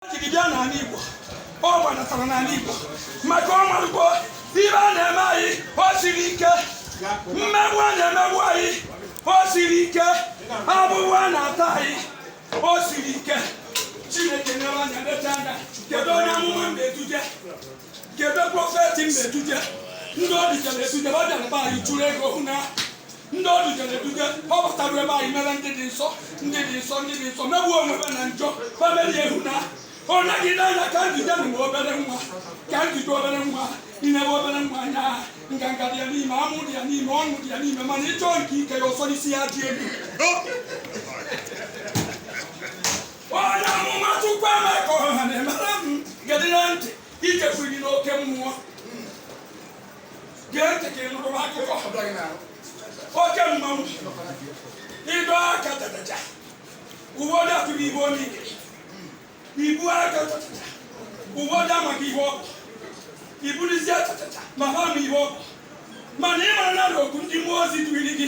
jiri bịa n'ala Igbo ọ gbadatara n'ala Igbo maka ọ marugo ife a na-eme anyị o siri ike mmegbu a na-emegbu anyị o siri ike afụfụ a na-ata anyị o siri ike Chineke nyere anya leta anya kedu onye amụma m na-eduje kedu prọfeti m na-eduje ndị o dujere eduje ọ bịara be anyị chụrụ ego hụ na ndị o dujere eduje ọ batara ebe anyị mere ndị dị nsọ ndị dị nsọ ndị dị nsọ megbuo onwe ha na njọ ha mere ehu na ọ naghị n'anya ka njide na obere nwa ka njide obere nwa i nebe obere nwa anya ha nganga dị ya n'ime amụ dị ya n'ime ọṅụ dị ya n'ime mana ị chọọ nke ike ya ọsọ n'isi ya dị elu onye amụma Chukwuemeka Ọhanaemere m gedị na ntị ijekwuru gị n'oke mmụọ gee ntị ka ị nụrụ akụkọ ọbụla gị na-arụ oke mmanwụ ịdọ aka tatacha uwe ọ dị atụghị ibe onye ikiri ibu aka tatacha uwe ọ dị amaghị ihe ọ bụ iburizie tatacha ma ha ma ihe ọ bụ mana ị mara na okwu ndị mmụọ ozi duiri gị